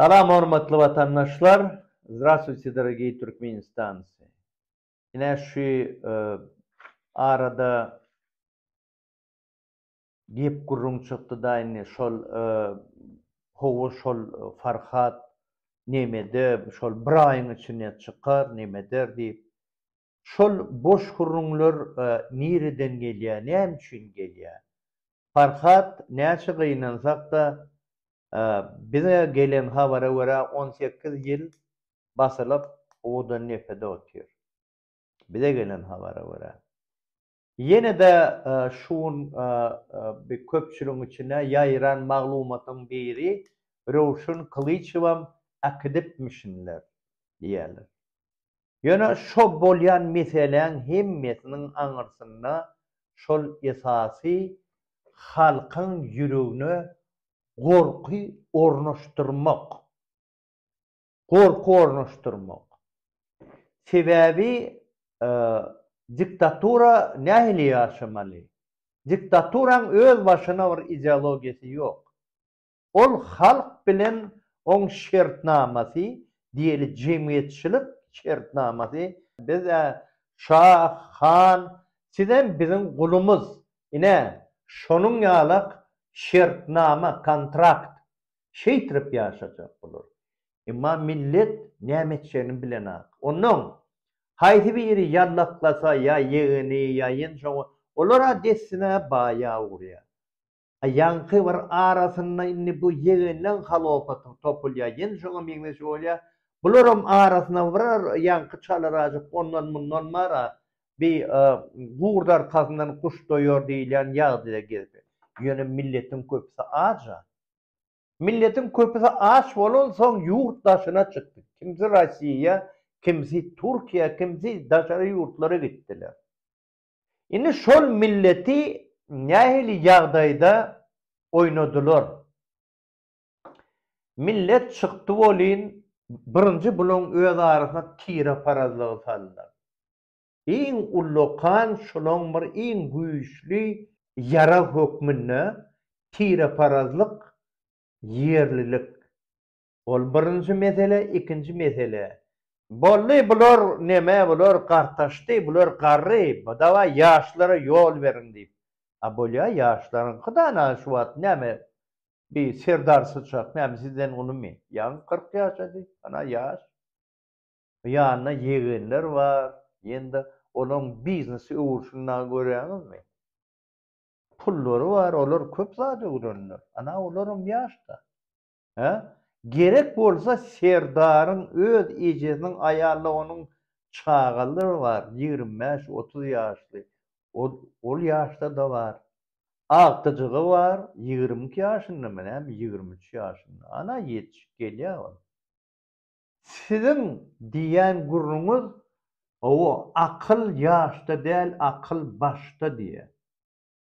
Salam hormatly watandaşlar Zdrastwuyte dorogiý Türkmenistancy Ine şü arada gep gürrüň çykdyda indi şol howa şol Farhat nemede şol bir aýyň içinde çykar nemeder diýip Şol boş gürrüňler nireden gelýär, näme üçin gelýär? Farhat, näçe gynansak-da, bize gelen habara görä, on sekiz ýyl basylyp, owadan depede otyr. Bize gelen habara görä. Ýene-de şu gün bir köpçüligiň içine ýaýran maglumatyň biri Röwşen Kylyçowam äkidipmişinler diýýärler. Ýöne şo bolýan meseläň hemmesiniň aňyrsynda şol esasy halkyň ýüregine gorky ornaşdyrmak, Gorky ornaşdyrmak. Sebäbi diktatura nähili ýaşamaly? Diktaturaň öz başyna bir ideologiýasy ýok. Ol halk bilen oň şertnamasy diýeli jemgyýetçilik şertnamasy. Biz-ä şa, han, sizem biziň gulumyz. Ine, şonuň ýalak şertnama, kontrakt. şeýtirip ýaşajak bular. Emma millet näme etjegini bilenok. Onnoň, haýsy biri ýallaklasa, ýa ýegeni, ýa ýenjoňy, olar-a dessine baýa ugurýar. A ýaňky bir arasynda indi bu ýegenleň halopatyň topul ýa ýenjoňa meňzeşi bolýar. Bularam arasynda bir ýaňky çalarajyk ondan-mundan bar-a, bi gurt arkasyndan guş doýar diýilýän ýagdaýda gezip ýör. Ýöne milletiň köpüsi aç-a. Milletiň köpüsi aç bolansoň ýurt daşyna çykdy. Kimsi Rossiýa, kimsi Türkiýä, kimsi daşary ýurtlara gitdiler. Indi şol milleti nähili ýagdaýda oýnadylar? Millet çykdy welin, birinji bularyň öz arasyna tireparazlygy saldylar. iň ullakan, şolaň bir iň güýçli ýarag hökmünde tireparazlyk, ýerlilik. Ol birinji mesele, ikinji mesele. Boldy, bular neme, bular gartaşdy, bular garry, dawaý ýaşlara ýol beriň diýip. A bolýa, ýaşlaryňky dana şu wagt näme, bi Serdar Syçak näme sizden ulumy? Ýaňy kyrk ýaşady, ana ýaş. Ýanynda ýegenler bar, ýene-de olaryň biznesi öwrülsin dagy görýäňizmi? Pullary bar, olar köp zat öwrendiler. Ana, olaram ýaş-da. Hä? Gerek bolsa Serdaryň öz ejesiniň aýaly onuň çagalary bar, ýigrimi bäş, otuz ýaşly. Ol, ol ýaşda-da bar. Agtyjygy bar, ýigrimi iki ýaşyndamy näme, ýigrimi üç ýaşynda. Ana, ýetişip gelýär ol. Siziň diýýän gürrüňiz gowy akyl ýaşda däl akyl başda diýýä.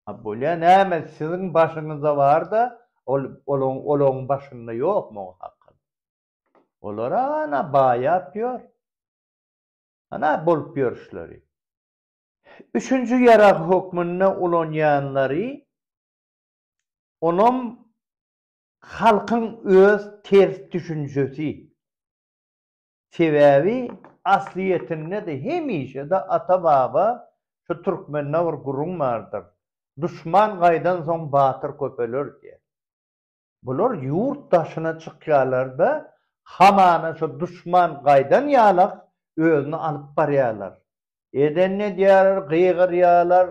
Ha bolýa näme siziň başyňyzda barda ol olaň olaň başynda ýokmy o akyl. Olar ana baýap ýör. Ana bolup ýörüşleri. Üçünji ýarag hökmünde ulanýanlary onam Halkyň öz ters düşünjesi. Sebäbi aslyýetinde-de hemişe-de ata-baba şu türkmende bir gürrüň bardyr, Duşman gaýdansoň batyr köpeler diýen. Bular ýurt daşyna çykýarlar-da, hamana şu duşman gaýdan ýalak özüni alyp barýarlar. Edenini edýärler, gygyrýarlar,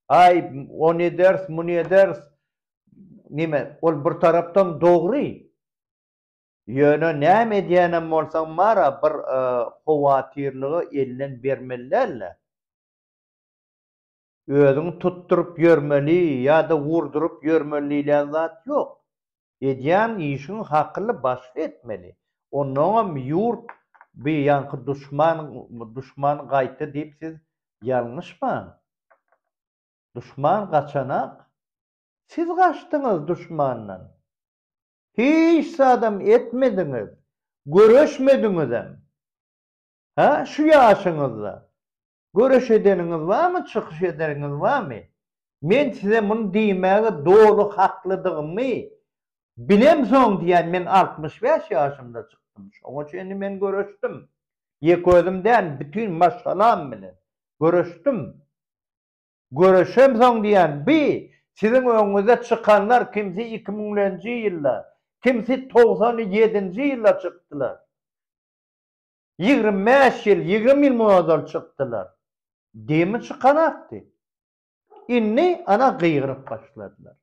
Aý, ony ederis, muny ederis, neme ol bir tarapdan dogry. Ýöne näme edýänem bolsaň Mara bir howatyrlygy elden bermeli däl-de. Özüňi tutduryp ýörmeli ýa-da urduryp ýörmeli diýlen zat ýok. Edýän işiňi hakyly başly etmeli. Onnoňam ýurt bi ýaňky duşman duşman gaýta diýip siz ýalňyşmaň. Duşman gaçanak, siz gaçdyňyz duşmandan. Hiç zadam etmediňiz, göreşmediňizem. Hä, şu ýaşyňyzda göreş edeniňiz barmy, çykyş edeniňiz barmy? Men size muny diýmäge doly haklydygymy bilemsoň diýýän, men altmyş bäş ýaşymda çykdym, şoňa çenli men göreşdim. Ýek özüm däl, bütin maşgalam bilen göreşdim. Göreşemsoň diýýän bi siziň öňüňize çykanlar kimsi iki müňlenji ýylda, kimsi togsan ýedinji ýylda çykdylar. Ýigrimi bäş ýyl, ýigrimi ýyl mundan ozal çykdylar. Demi çykanakdy. Indi, ana, gygyryp başladylar.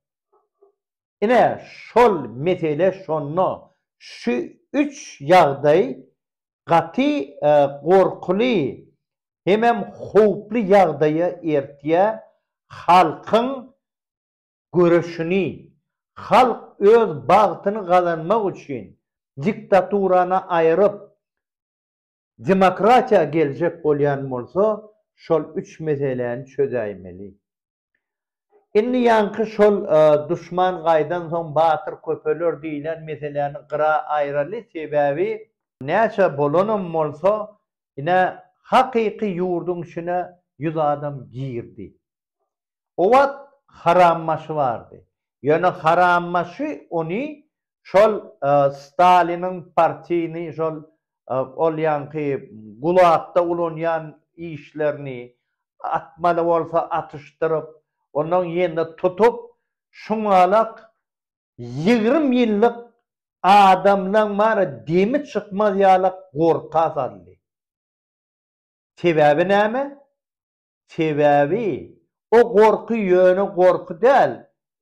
Ine, şol mesele şonda. Şu üç ýagdaý gaty gorkuly hemem howply ýagdaýa ertýär, halkyň göreşini, halk öz bagtyny gazanmak üçin diktaturany aýryp, Demokratiýa geljek bolýan bolsa şol üç meseläni çözäýmeli. Indi ýaňky şol duşman gaýdan soň batyr köpeler diýlen meseläni gyra aýraly sebäbi, näçe bolanam bolsa ine hakyky ýurduň içine ýüz adam girdi O wagt Harambaşy bardy. Ýöne Harambaşy ony şol Staliniň partiýny şol ol ýaňky Gulagda ulanýan işlerini atmaly bolsa atyşdyryp, ondan ýene tutup, şuňalak ýigrimi ýyllyk adamlaň bary demi çykmaz ýalak gorka saldy. Sebäbi näme? Sebäbi, o gorky ýöne gorky däl,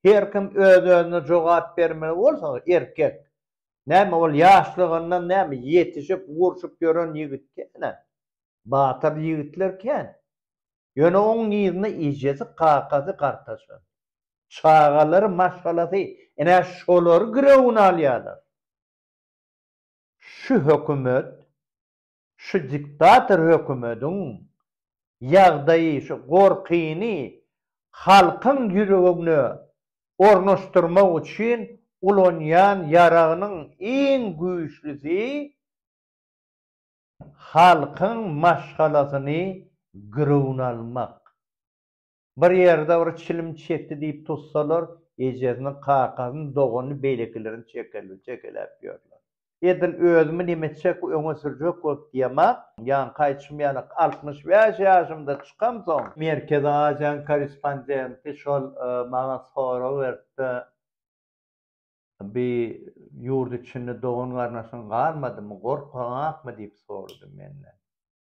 her kim öz-özüne jogap bermeli bolsa, erkek. Näme, ol ýaşlygyndan, näme, ýetişip, urşup ýören ýigit däl-ä. Batyr ýigitler kän. Ýöne oň yzynda ejesi, kakasy, gartaşy, çagalary, maşgalasy, ine, şolary girewine alýarlar. Şu hökümet Şu diktator hökümediň ýagdaýy şu gorkyny halkyň ýüregine ornaşdyrmak üçin ulanýan ýaragynyň iň güýçlüsi halkyň maşgalasyny girewn almak. Bir ýerde bir çilim çekdi diýip tutsalar, ejesini, kakasyny, doganyny, beýlekilerini çekelew, çekeläp ýörler. Edil özümi neme çekip öňe sürjek bolup diýemok. Ýaňky aýtşym ýaly, altmyş bäş ýaşymda çykamsoň, Merkezi Aziýanyň korrespondenti şol maňa sorag beripdi, Bi ýurt içinde dogan-garnaşyň galmadymy, gorkaňakmy diýip sorady menden.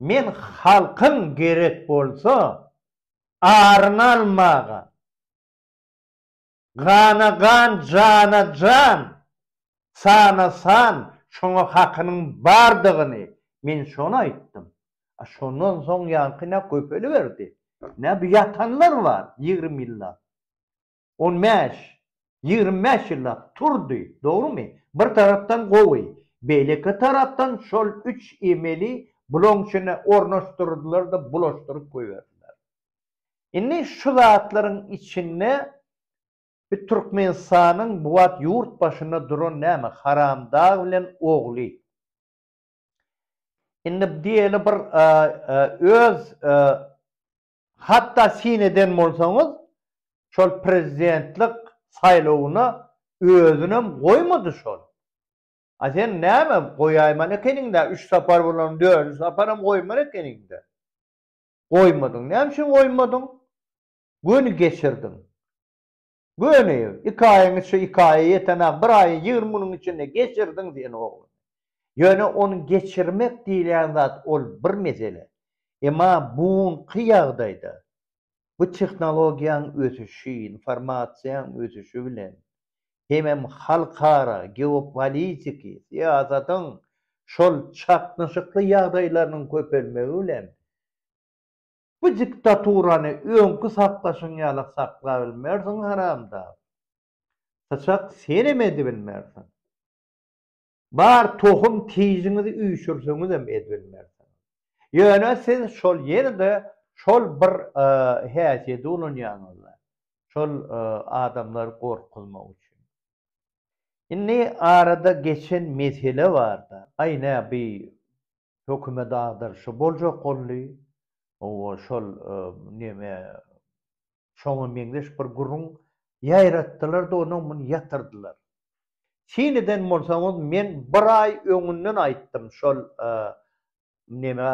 Men halkyň gerek bolsa aryny almaga, gana gan, jana jan, sana san, şoňa hakynyň bardygyny men şony aýtdym. A şondan soň ýaňky nä köpeliberdi, nä bu ýatanlar bar ýigrimi ýyllap. On bäş, ýigrimi bäş ýyllap turdy, dogrumy? Bir tarapdan gowy, beýleki tarapdan şol üç emeli bulaň içine ornaşdyrdylar-da bulaşdyryp goýberdiler. Indi şu zatlaryň içinde bi Türkmenistanyň bu wagt ýurt başynda duran näme Haramdag bilen ogly. Indi diýeli bir öz Hatda syn eden bolsaňyz, şol prezidentlik saýlawyna özünem goýmady şol. A sen näme, goýaýmaly ekeniň-dä, üç sapar bolan, dördünji saparam goýmaly ekeniň-dä. Goýmadyň. Näme üçin goýmadyň? Göni geçirdiň. Göni, iki aýyň içi iki aýa ýeten-ä, bir aýy ýigrimi günüň içinde geçirdiň sen ogluny. Ýöne ony geçirmek diýilýän zat ol bir mesele. Emma bugunky ýagdaýda bu tehnologiýaň ösüşi, informasiýaň ösüşi bilen hemem halkara geopolitiki syýasatyň şol çaknyşykly ýagdaýlarynyň köpelmegi bilen, Bu diktaturany öňki saklaşyň ýaly saklabilmersiň haramdag. Syçak senem edibilmersiň. Bar tohum tijiňizi üýşürseňizem edibilmersiň. Ýöne siz şol ýene-de şol bir häsiýedi ulanýaňyzda. Şol adamlary gorkuzmak üçin. Indi arada geçen mesele barda, aý nä bi hökümet agdaryşy boljak boldy. Owo şol neme şoňa meňzeş bir gürrüň ýaýratdylar-da onuň muny ýatyrdylar. Syn eden bolsaňyz men bir aý öňünden aýtdym şol neme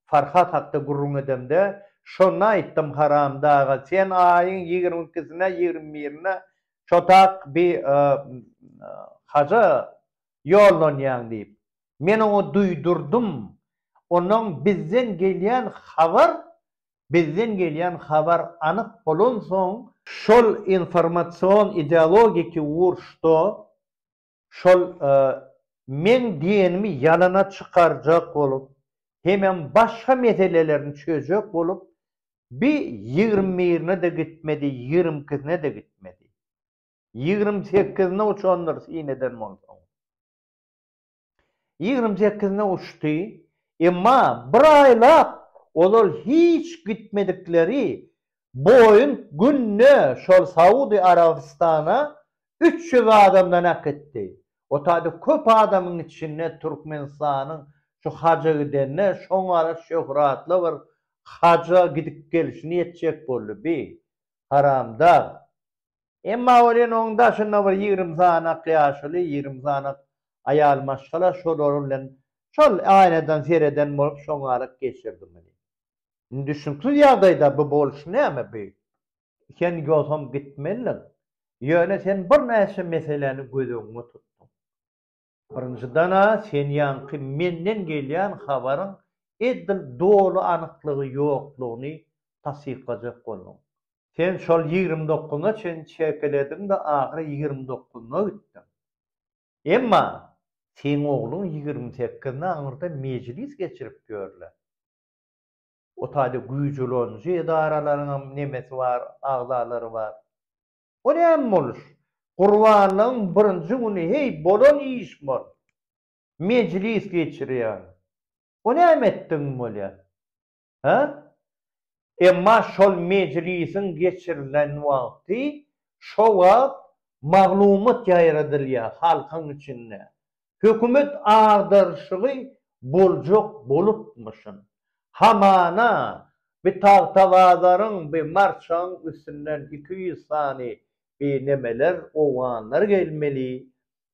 Farhat hakda gürrüň edemde şonda aýtdym haramdaga sen aýyň ýigrimi ikisine ýigrimi birine şotak bir haja ýollanýaň diýip, men oňa duýdurdym. Ondan bizden gelýän habar bizden gelýän habar anyk bolansoň, şol informasion ideologiki uruşda şol meň diýenimi ýalana çykarjak bolup hemem başga meselelerini çözjek bolup bi ýigrimi birine-de gitmedi, ýigrimi ikisine-de gitmedi. Ýigrimi sekizine uçandyr syn eden bolsaň. Ýigrimi sekizine uçdy, emma bir aýlap ozal hiç gitmedikleri Boeing günde şol Saudy Arabystana üç ýüz adamdan äkitdi. O taýda köp adamyň içinde Türkmenistanyň şu haja gidende şoňara şöhratly bir haja gidip gelşini etjek boldy bi haramdag. Emma welin oň daşynda bir ýigrimi sanak ýaşuly, ýigrimi sanak aýal maşgala şolar bilen şol aýnadan sereden bolup şoňalyk geçirdim welin. Indi düşnüksiz ýagdaýda bu boluş näme bu? Sen ýogsam gitmelidiň. Ýöne sen birnäçe meseläni göz öňüňe tutduň. Birinjiden-ä sen ýaňky menden gelýän habaryň edil doly anyklygy ýoklugyny tassyklajak bolduň. Sen şol ýigrimi dokuzyna çenli çekelediň-de ahyry ýigrimi dokuzyna gitdiň. Emma seň ogluň ýigrimi sekizine aňyrda mejlis geçirip ýör-le. O taýda güýç ulanyjy edaralaryňam nemesi bar, agzalary bar. O näme boluş? Gurbanlygyň birinji güni heý bolan iş bol. Mejlis geçirýäň. O näme etdigiň bolýa? Hä? Emma şol mejlisiň geçirilen wagty şo wagt maglumat ýaýradylýa halkyň içinde. hökümet agdaryşygy boljak bolupmyşyn. Hamana, bi tagtabazaryň, bi marçagyň üstünden iki ýüz sany bi nemeler, owganlar gelmeli.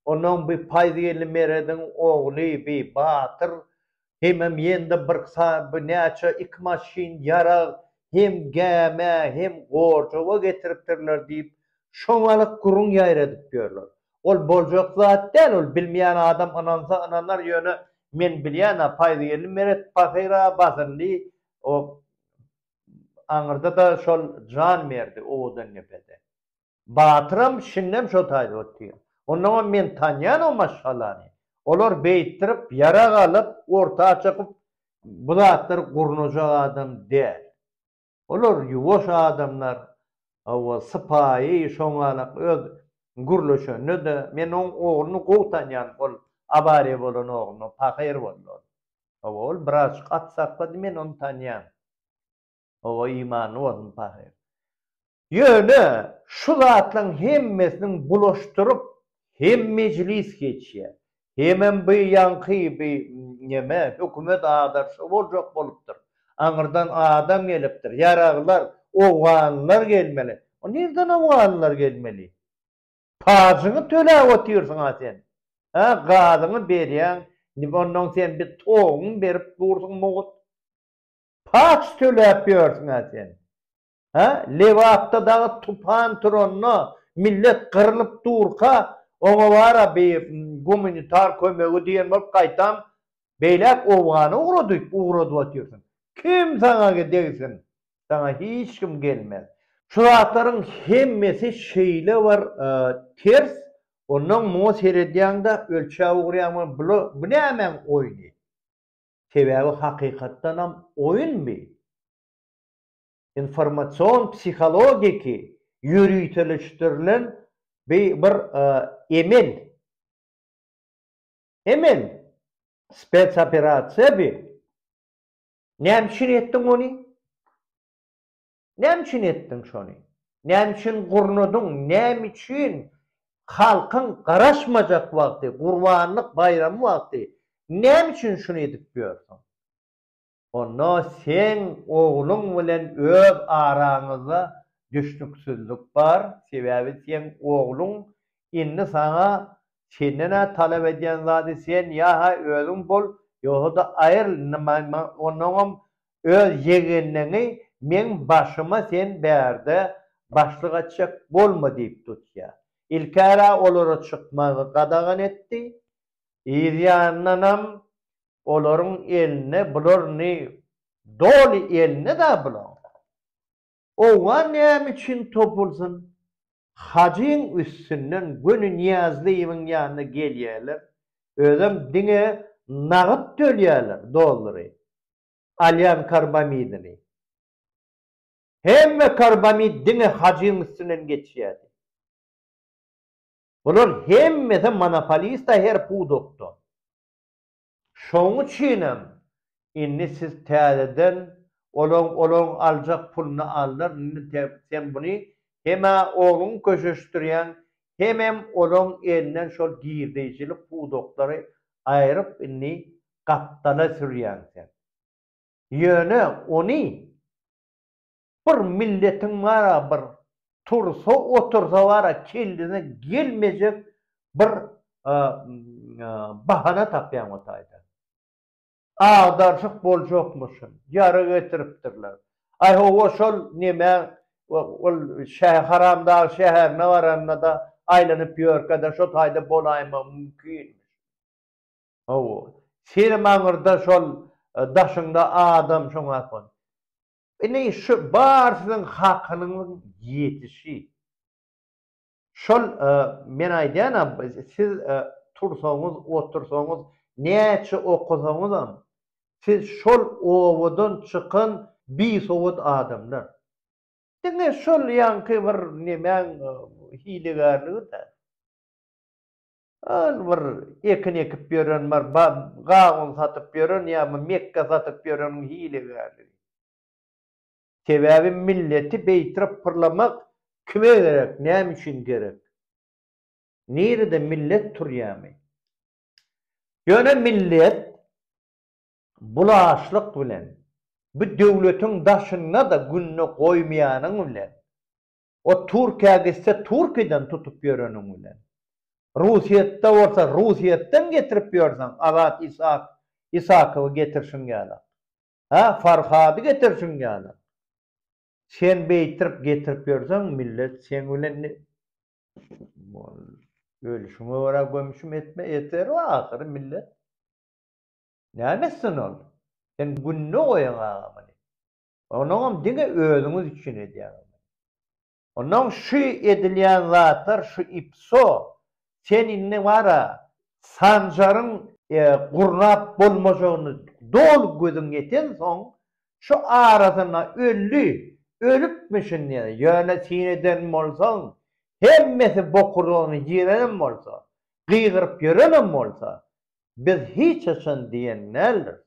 Onuň bi paýzgelli Merediň ogly bi batyr Hemem ýende bir saýby näçe iki maşyn ýarag hem gämä hem gorjuga getiripdirler diýip şoňalyk gürrüň ýaýradyp ýörler. Ol boljak zat däl ol bilmeýän adam ynansa ynanar ýöne men bilýänä Paýzgeldi Meret pahyra basyldy o aňyrda-da şol jan berdi Owadandepede. Batyram şindem şo taýda otyr. Onnoňam men tanýan o maşgalany. Olar beýtdirip, ýarag alyp, orta çykyp, bu zatlary gurnajak adam däl. Olar ýuwaş adamlar, hawa, sypaýy, şoňalak öz gürleşende-de, men oň ogluny gowy tanýan, ol awariýa bolan ogluny, pahyr boldy ol. Hawa, ol birazjyk at saklady, men ony tanýan. Hawa, imanyny bozma, pahyr. Ýöne, şu zatlaryň hemmesiniň bulaşdyryp, hem mejlis geçýär, hemem bu ýaňky bu neme, hökümet agdarşy boljak bolupdyr. Aňyrdan adam gelipdir. Ýaraglar, owganlar gelmeli. O nirden owganlar gelmeli? Pajyňy töläp otyrsyň-a sen. Hä, gazyňy berýäň, onnoň sen bir toguňy berip dursuň mugt. Paç töläp ýörsüň-ä sen. Hä, Lebapda dagy tupan turanda, millet gyrylyp durka, oňa bar-a bi gumanitar kömegi diýen bolup gaýtam beýläk owgana ugra diýip ugradyp otyrsyň. Kim saňa degsin? Saňa hiç kim gelmez. Şu zatlaryň hemmesi şeýle bir ters, onnoň muňa seredýäň-de, ölçäp ugraýaň, bu nämäň oýny? Sebäbi hakykatdanam oýun bi. Informasion psihologiki ýöriteleşdirilen bi bir emel. Emel. Spetsoperasiýa bi. Näme üçin etdiň ony? Näme üçin etdiň şony? Näme üçin gurnadyň? Näme üçin halkyň garaşmajak wagty, gurbanlyk baýramy wagty näme üçin şuny edip ýörsüň? Onda seň ogluň bilen öz araňyzda düşnüksizlik bar, sebäbi seň ogluň indi saňa senden-ä talap edýän zady sen ýa-ha özüň bol, ýogsa-da aýryl, indi maňa onnoňam öz ýegenleňi meň başyma sen bärde başlyk etjek bolma diýip tutýar. Ilk-ä olara çykmagy gadagan etdi, yz ýandanam olaryň eline bular ni doly eline-dä bulaň. Oňa näme üçin topulsyn? Hajyň üstünden göni Nyýazlyýewiň ýanyna gelýärler, özem diňe nagt tölýärler, dollary. Alýan karbamidini. Hemme karbamid diňe Hajyň üstünden geçýärdi. Bular hemmesi monopolista her pudakda. Şoň üçinem indi siz täzeden olaň olaň aljak puluny aldylar, indi te sen buny hem-ä ogluňy köşeşdirýäň, hemem olaň elinden şol girdeýjilik pudaklary aýryp indi gapdala sürýäň sen. Ýöne ony Bir milletiň bara bir tursa otursa bara kellesine gelmejek bir bahana tapýan o taýda. Agdarşyk boljakmyşyn, ýara getiripdirler. Aý hawa şol neme ol şäh haramdag şäherine baranda-da aýlanyp ýörkä-de şo taýda bolaýmagy mümkin. Hawa. Senem aňyrda şol daşyňda adam şoňa. Ine, şu bar siziň hakynyňyzyň ýetişi. Şol men aýdýan-a, siz tursaňyz, otursaňyz, näçe okasaňyzam, siz şol obadan çykan bisowat adamlar. Diňe şol ýaňky bir nemäň hilegärligi-dä. Ol bir ekin ekip ýören, bir gawun satyp ýören ýa bir mekge satyp ýöreniň hilegärligi. Sebäbi milleti beýtrap pyrlamak kime gerek, näme üçin gerek? Nirede millet turýamy? Ýöne millet bulaşlyk bilen, bu döwletiň daşynda-da gününe goýmaýanyň bilen, O Türkiýä gitse Türkiýeden tutup ýöreniň bilen. Russiýetde bolsa Russiýetden getirip ýörseň Azat Isak Isakowy getirşiň ýalak. Hä Farhady getirşiň ýalak. Sen beýtirip getirip ýörseň millet seň bilen ne Ölüşiňe görä gömüşim etme eterow ahyry millet. Näme etsin ol. Sen gününe goýaň aga muny. Onuňam diňe özüňiz üçin edýäňizmi? Onnoň şu edilýän zatlar şu ipso sen indi bara Sanjaryň gurnap bolmajagyny doly gözüň ýetensoň şu arasynda öldi, ölüpmi şindi ýöne syn eden bolsaň hemmesi bokurdagyny ýyýrenem bolsa, gygyryp ýörenem bolsa biz hiç haçan diýen däldiris.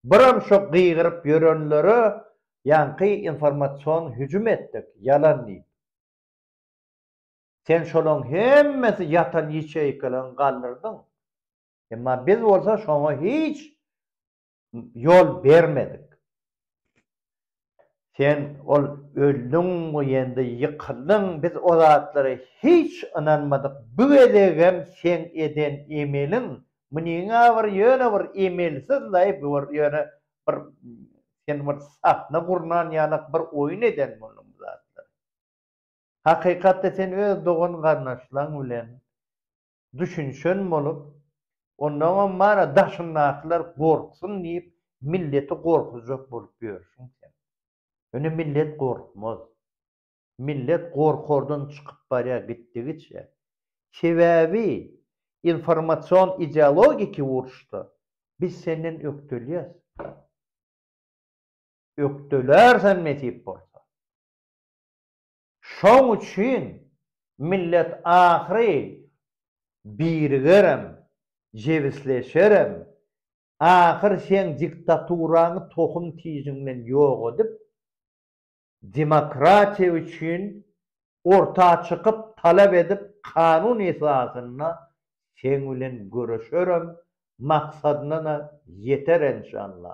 Biram şo gygyryp ýörenlere ýaňky informasion hüjüm etdik ýalan diýip. Sen şolaň hemmesi ýatan ýeçeýkalaň galdyrdyň. Emma biz bolsa şoňa hiç ýol bermedik. Sen ol öldüň we ýende ýykyldyň, biz o zatlara hiç ynanmadyk, bu gezegem seň eden emeliň, munyňa bir ýöne bir emelsiz-laý, bu bir ýöne bir sen bir sahna gurnan ýalak bir oýun eden bolduň bu zatlary. Hakykatda sen öz dogan-garyndaşlaň bilen düşünişen bolup, onnoňam bana daşyndakylar gorksun diýip milleti gorkuzjak bolup ýörsiň sen. Ýöne millet gorkmaz. Millet gorkardan çykyp barýar gitdigiçe. Sebäbi informasion ideologiki uruşda biz senden ökdelýäs. Ökdelärsen nesip bolsa. Şoň üçin millet ahyry birigerem, jebisleşerem, ahyr seň diktaturaňy tohum tijiňden ýok edip, demokratiýa üçin orta çykyp talap edip kanun esasynda seň bilen göreşerem, maksadyna-da ýeter enşalla.